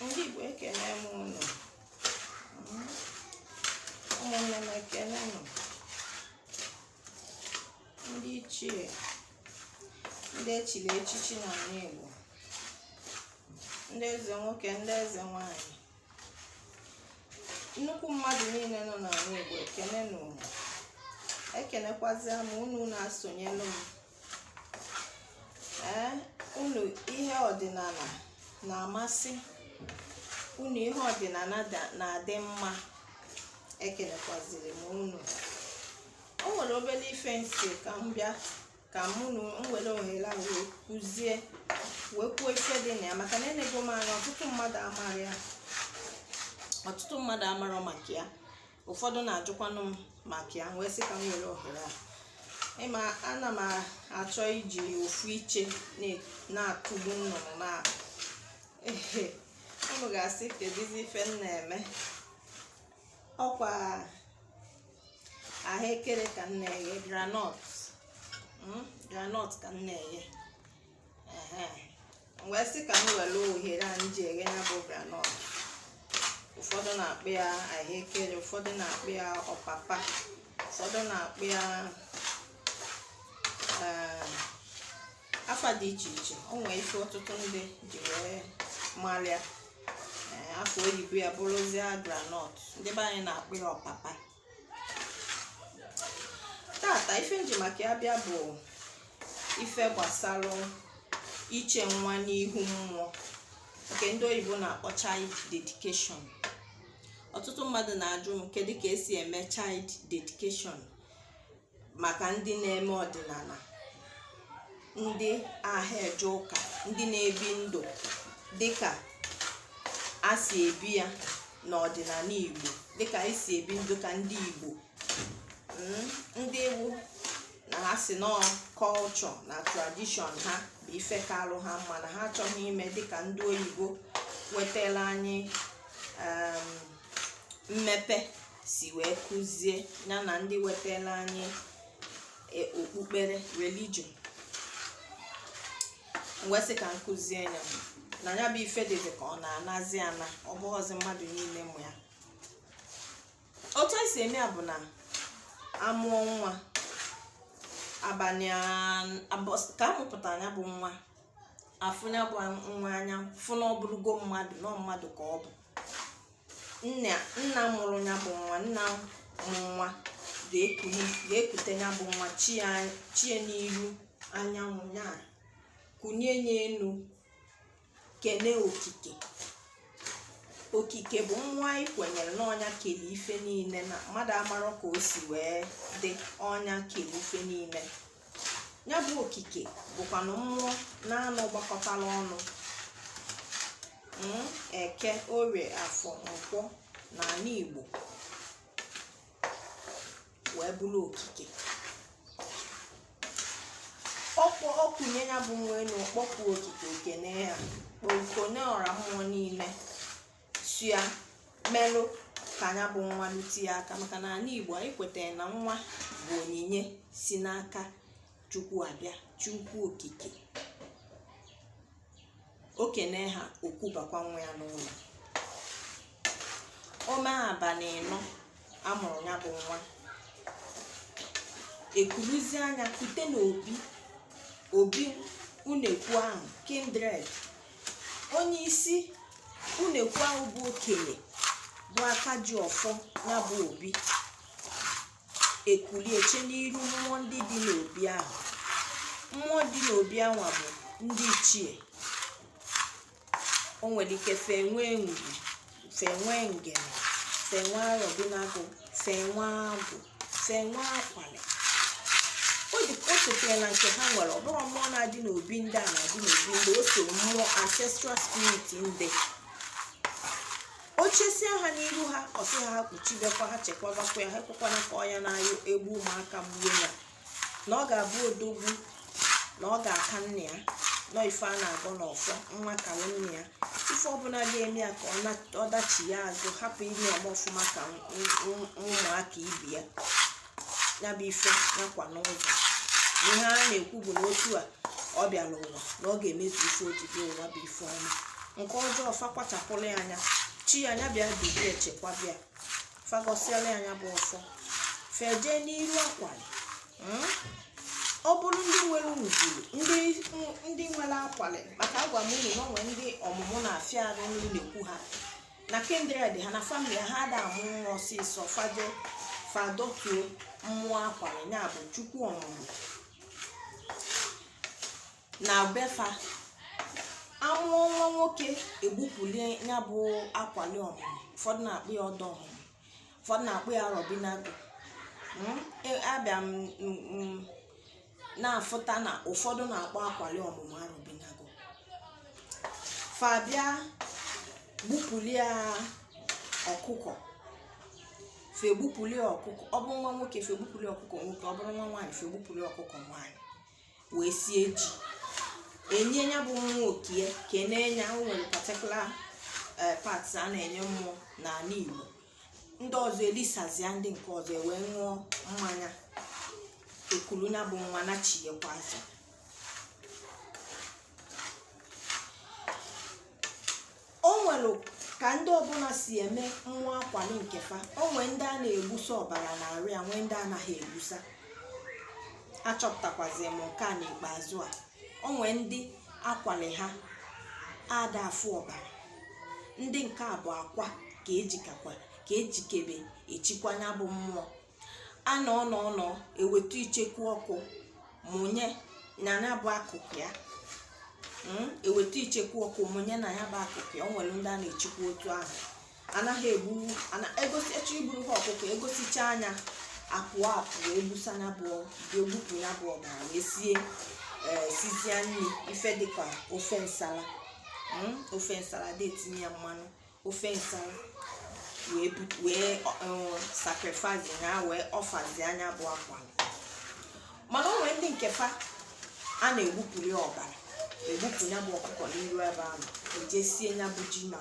ndị Igbo ekene m unu ụmụnne m ekene nụ ndị ichie ndị echiri echichi n'anị Igbo ndị eze nwoke ndị eze nwanyị nnukwu mmadụ niile nọ n'anị Igbo ekene m unu ekenekwazi m unu na-esonyelu m ee unu ihe ọdịnala na-amasị unu ihe ọdịnala na-adị mma ekenekwaziri m unu o nwere obere ife m sị ka m bịa ka m were ohere a wee kụzie wee kwuo ife dị na ya maka na enego m anya ọtụtụ mmadụ amarọ ya ọtụtụ mmadụ amarọ maka ya ụfọdụ na-ajụkwanụ m maka ya wee sị ka m were ohere a ị ma ana m achọ iji ofu iche na-akụgbu nnụnụ naabọ ehe unu ga-asị kedizi ife m na-eme ọkwa ahụekere ka m na-eghe groundnut groundnut ka m na-eghe wee sị ka m were ohere a m ji eghe ya bụ groundnut ụfọdụ na-akpọ ya ahụekere ụfọdụ na-akpọ ya ọpapa ụfọdụ na-akpọ ya ee, afa dị iche iche o nwee ife ọtụtụ ndị ji wee mara ya ee, afa oyibo ya bụrụzie groundnut ndị be anyị na-akpọ ya ọpapa tata ife m ji maka ya bịa bụ ife gbasara iche nwa n'ihu mmụọ nke ndị oyibo na-akpọ child dedication ọtụtụ mmadụ na-ajụ m kedu ka esi eme child dedication maka ndị na-eme ọdịnala ndị aha eje ụka ndị na-ebi ndụ dịka a si ebi ya n'ọdịnala Igbo dịka anyị si ebi ndụ ka ndị Igbo mm, ndị Igbo na ha sị no culture na tradition ha bụ ife kalụ ha mma na ha achọghị ime dịka ndị oyibo wetara anyị mmepe si wee kụzie ya na ndị wetara anyị e, okpukpere religion m wee sị ka m kụzie ya na ya bụ ife dịzi ka ọ na-anazi ana ọ bụghịzi mmadụ niile ma otu esi eme ya bụ na amụọ nwa abalị ka amụpụta ya bụ nwa afụ ya bụ nwa anya fụ na ọ bụrụgo mmadụ na ọ mmadụ ka ọ bụ nna nna mụrụ ya bụ nwa nna mụrụ nwa ga-ekuli ga-ekute ya bụ nwa chee ya chee ya n'iru anyanwụ ya kunie ya elu kene okike okike bụ na anyị kwenyere na onye kele ife niile na mmadụ amarọ ka o si wee dị onye kele ife niile ya bụ okike bụkwanụ mmụọ naanọ gbakọtara ọnụ mm, eke orie afọ nkwọ na ala igbo wee bụrụ okike o kpọ o kunie ya bụ nwa elu kpọkuo okike kene ya kpọkuo ọra mmụọ niile sị ha merụ ka nya bụ nwa lutie aka maka na ala igbo anyị kwetara na nwa bụ onyinye si n'aka chukwu abịa chukwu okike o kene ha o kubakwa nwa ya n'ụlọ o me abalị ịnọ a mụrụ ya bụ nwa e kuruzie nya kute n'obi obi unekwu ahụ kindred onye isi unekwu ahụ bụ okenye bụ aka ji ọfọ ya bụ obi e kulie chee n'iru mmụọ ndị dị n'obi ahụ mmụọ dị n'obi anwa bụ ndị ichie o nwere ike fa enwee ngwu fa enwee ngene fa enwee arọbinagụ fa enwee agwụ fa enwee akwali ọ dị o sitere na nke ha nwere ọ bụrụ mmụọ na-adị n'obi ndị a na-adị n'obi ndị o so mmụọ ancestral spirit ndị o chesịa ha n'iru ha ọ sị ha ha kpuchibekwa ha chekwabakwa ya ha ekwekwana ka ọya na-ayọ egbu ụmụaka gbuo ya na ọ ga-abụ odogwu na ọ ga-aka nna ya na ọ ife a na-agọ n'ọfọ nwa ka nna ya ife ọbụla ga-eme ya ka ọ dachie azụ hapụ ime ọfụma ka ụmụaka ibe ya ya bụ ife nakwa n'ụzọ ihe a na-ekwu bụ na otu a ọ bịara ụwa na ọ ga-emezu ife o ji bịa ụwa bụ ife ọma nke ọjọọ fa kpachapụrụ ya anya chi ya nya bịa dube ya chekwabe ya fa gọsịala ya nya bụ ọfọ fa eje n'iru akwali hmm? ọ bụrụ ndị nwere ugwuru ndị nwere akwali maka agwa m unu na o nwe ndị ọmụmụ na-afịa arụ n'unekwu ha na kindred ha na famili ha a da amụ nwa ọsịsọ fa eje fa dotuo mmụọ akwali ya bụ chukwu ọmụmụ na befa amụọ nwa nwoke egbupulie ya bụ akwali ọmụmụ ụfọdụ na-akpọ ya ọdọ ọmụmụ ụfọdụ na-akpọ ya arọbinagụ Mm, e- abịa m m- m- na-afụta na ụfọdụ na-akpọ akwali ọmụmụ arọbinagụ fa bịa gbupulie ọkụkọ fa egbupulie ọkụkọ ọ bụrụ nwa nwoke fa egbupulie ọkụkọ nwoke ọ bụrụ nwa nwaanyị fa egbupulie ọkụkọ nwaanyị wee sie ji enye ya bụ nwoke ekenee ya o nwere particular eh, parts a na-enye mmụọ n'anị Igbo ndị ọzọ elisazia ndị nke ọzọ e wee ṅụọ mmanya ekulu ya bụ nwa nachiekwazi o nwere ka ndị ọbụla si eme nwa akwali nke fa o nwee ndị a na-egbusa ọbara na arụ ya nwee ndị anaghị egbusa achọpụtakwazi m nke a n'ikpeazụ a o nwee ndị akwali ha ada afụ ọbara ndị nke a bụ akwa ka eji akwa ka ejikebe echikwa ya bụ mmụọ a nọ nọ nọ eweta icheku ọkụ mụnye na ya bụ akụkụ ya hmm? eweta icheku ọkụ mụnye na ya bụ akụkụ ya o nwere ndị a na-echekwa otu ahụ anaghị egbu egosi echi iburu ha ọkụkọ egosicha ya apụọ apụ wee gbusa ya bụ egbupụ ya bụ ọbara wee sie eh, sizie nni ife dịka ofe nsala hmm? ofe nsala adị etinye ya mmanụ ofe nsala wee bu- wee um, sacrifice ya wee offerzia ya bụ akwali mana o nwere ndị nke fa a na-egbupụli ọbara egbupụ ya bụ ọkụkọ n'iru ebe ahụ eje sie ya bụ ji na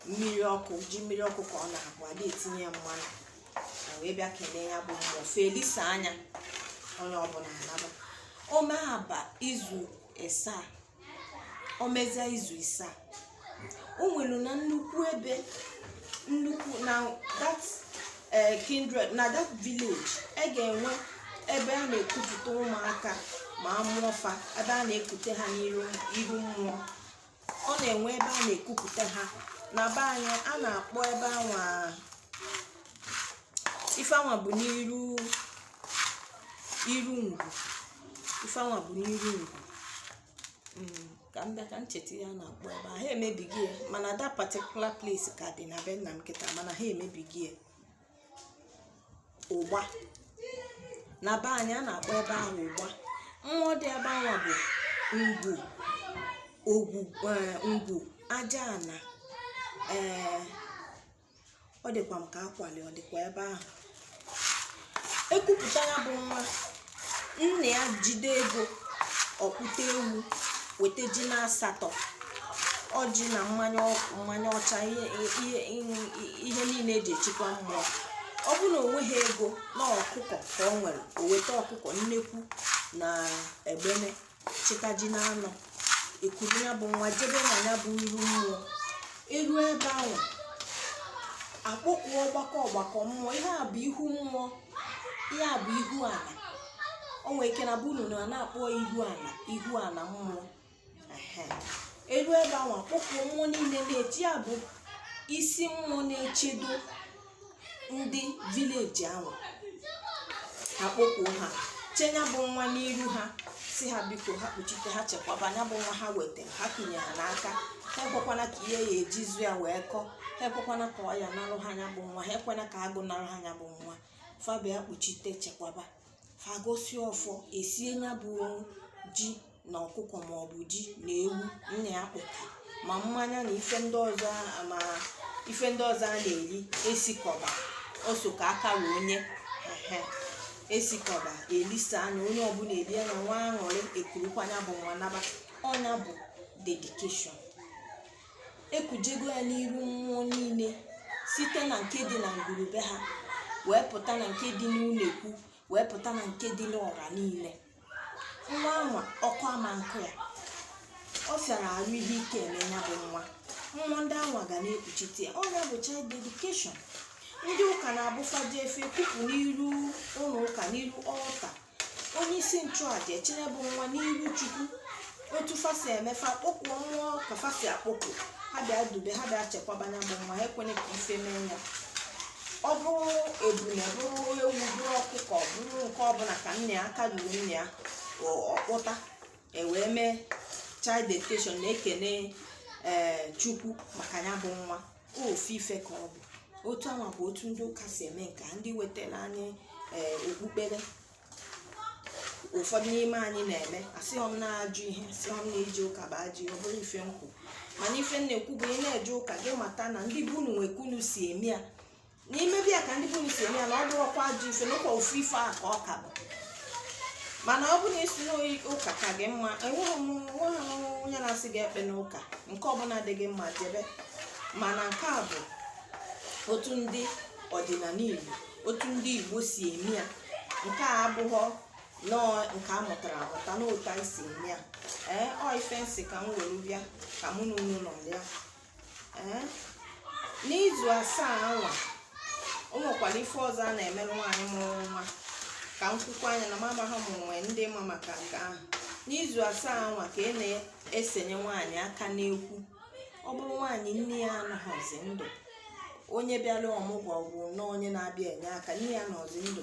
mmiri ọkụ ji mmiri ọkụ ka ọ na-abụ ada etinye ya mmanụ na wee bịa kenee ya bụ mmụọ fa elisia ya onye ọbụla anaba ome aba izu isaa o mezia izu isaa o nwere na nnukwu ebe nnukwu na that eh, kindred na that village e ga-enwe ebe a na-ekupụta ụmụaka ma a mụọ fa ebe a na-ekute ha n'iru iru mmụọ ọ na-enwe ebe a na-ekupụta ha na be anyị a na-akpọ ebe anwa ife anwa bụ n'iru iru ngwu ife anwa bụ n'iru ngwu mm, ka m bịa ka m cheta ihe a na-akpọ ebe a ha emebighị ya mana that particular place ka dị na be nna m kịta mana ha emebighị ya ụgba na be anyị a na-akpọ ebe ahụ ụgba mmụọ dị ebe anwa bụ ngwu ogwu eh, ngwu aja ana ee eh, ọ dịkwa m ka akwali ọ dịkwa ebe ahụ ekupụta ya bụ nwa nna ya jide ego ọ kpụta ewu weta ji na asatọ ọjị na mmanya ọkụ mmanya ọcha ihe ihe ihe niile eji echekwa mmụọ ọ bụrụ na o nweghị ego na ọkụkọ ka o nwere o weta ọkụkọ nnekwu na egbene chịta ji na anọ ekuru ya bụ nwa jebe na ya bụ iru mmụọ erue ebe ahụ akpọkuo ọgbakọ ọgbakọ mmụọ ihe a bụ ihu mmụọ ihe a bụ ihu ala o nwere ike na be unu na a na-akpọ ya ihu ala ihu ala mmụọ erue ebe ahụ akpọkuo mmụọ niile na-eche ya bụ isi mmụọ na-echedo ndị village ahụ ha kpọkuo ha chee ya bụ nwa n'iru ha sị ha biko ha kpuchite ha chekwaba ya bụ nwa ha weta ha tinye ha n'aka ha ekwekwana ka ihe a ya-eji zụọ ya wee kọ ha ekwekwana ka ọya narụ ha ya bụ nwa ha ekwena ka agụụ narụ ha ya bụ nwa fa bịa kpuchite chekwaba fa gọsịa ọfọ esie ya bụ ji na ọkụkọ maọbụ ji na ewu nna ya kpụta ma mmanya na ife ndị ọzọ a ma ife ndị ọzọ a na-eri esikọba ọ sọ ka aka ra onye ehe esikọba elisa na onye ọbụla erie na-enwe aṅụrị ekurukwa ya bụ nwa naba ọ nya bụ dedication ekujego ya n'iru mmụọ niile site na nke dị na ngwuru be ha wee pụta na nke dị n'ụlọ ekwu wee pụta na nke dị n'ọra niile nwa anwa ọkụ ama nkụ ya ọ fịara arụ ihe ike eme ya bụ nwa mmụọ ndị anwa ga na-ekpuchite ya ọ ya bụ child dedication ndị ụka na-abụ fa jee fa ekupụ n'iru ụlọ ụka n'iru altar onye isi nchụaja echere ya bụ nwa n'ihu chukwu otu fa si eme fa kpọkuo mmụọ ka fa si akpọku ha bịa dube ha bịa chekwaba ya bụ nwa ha ekwene ka ife mee ya ọ bụrụ ebule bụrụ ewu bụrụ ọkụkọ bụrụ nke ọbụla ka nna ya aka ruru nna ya ọ- ọ kpụta e wee mee child dedication na-ekene ee chukwu maka ya bụ nwa ofu ife ka ọ bụ otu anwa bụ otu ndị ụka si eme nke a ndị wetara anyị ee okpukpere ụfọdụ n'ime anyị na-eme asịghọ m na ajọ ihe asịghọ m na ije ụka bụ ajọ ihe ọ bụrọ ife m kwu mana ife m na-ekwu bụ ị na-eje ụka gị mata na ndị be unu nwe ka unu si eme ya na ị mebe ya ka ndị be unu si eme ya na ọ bụrọkwa ajọ ife na ọ kwa ofu ife ahụ ka ọ ka bụ mana ọ bụ na ị sị na ọ ụka ka gị mma enweghị m nweghị m onye na-asị gị ekpena ụka nke ọbụla dị gị mma jebe mana nke a bụ otu ndị ọdịnala igbo otu ndị igbo si eme ya nke a abụghọ nọọ nke a mụtara amụta n'otu esi eme ya ee ọ ife m sị ka m were bịa ka mụ na unu nọrịa n'izu asaa anwa o nwekwara ife ọzọ a na-emere nwaanyị mụrụ nwa ka m kwukwuo nya na amabaghị m o nwee ndị ma maka nke ahụ n'izu asaa anwa ka a na-esenye nwaanyị aka n'ekwu ọ bụrụ nwaanyị nne ya anọghọzi ndụ onye bịara ọmụgwọ gwụ na onye na-abịa enye aka nne ya anọghọzi ndụ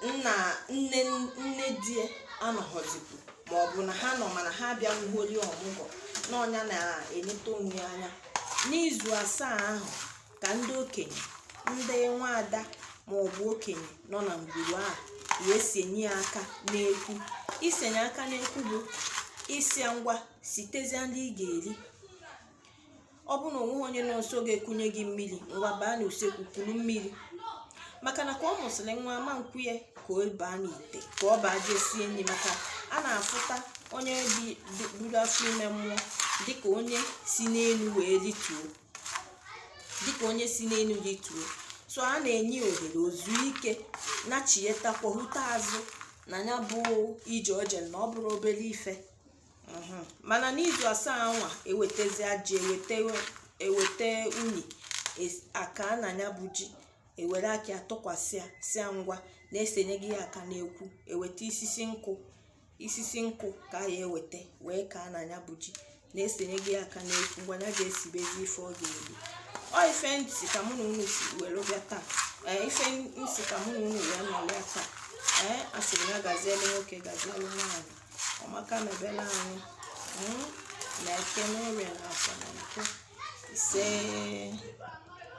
nna nne nne di ya anọghọzikwu ma ọ bụ na ha nọ mana ha abịanwugholi ọmụgwọ na ọ nya na-eneta onwe ya anya n'izu asaa ahụ ka ndị okenye ndị nwaada ma ọ bụ okenye nọ na ngwuru ahụ ya-esenye ya aka n'ekwu isenye aka n'ekwu bụ ịsị ya ngwa sitezia nri ị ga-eri ọ bụ na o nweghị onye nọ nso ga-ekunye gị mmiri ngwa baa n'usekwu kuru mmiri maka na ka ọ mụsịrị nwa a ma-ekwe ya ka ọ baa n'ite ka ọ baa jee sie nri maka a na-afụta onye buru afọ ime mụọ dịka onye si n'elu wee rituo dịka onye si n'elu rituo so a na-enye ya ohere o zuo ike nachiyetakwa hụta azụ na ya bụ ije o je na ọ bụrọ obere ife mhm. mana n'izu asaa anwa ewetezia ji eweta unyi akaa na nya bụ ji ewere aka ya tụkwasị ya sị ngwa na esenyego ya aka n'ekwu eweta isisi nkụ isisi nkụ ka ya eweta wee kaa na nya bụ ji na esenyego ya aka n'ekwu mgbe ya ga-esibezi ife ọ ga-eri ọ ife ntị ka mụ na unu si were bịa taa ee ife ntị ka mụ na unu wee nọrọ ya taa ee asịrị ya gazielu nwoke gazielu nwaanyị ọmaka mebere anyị hmm? n'eke n'orie n'afọ na nkwọ ise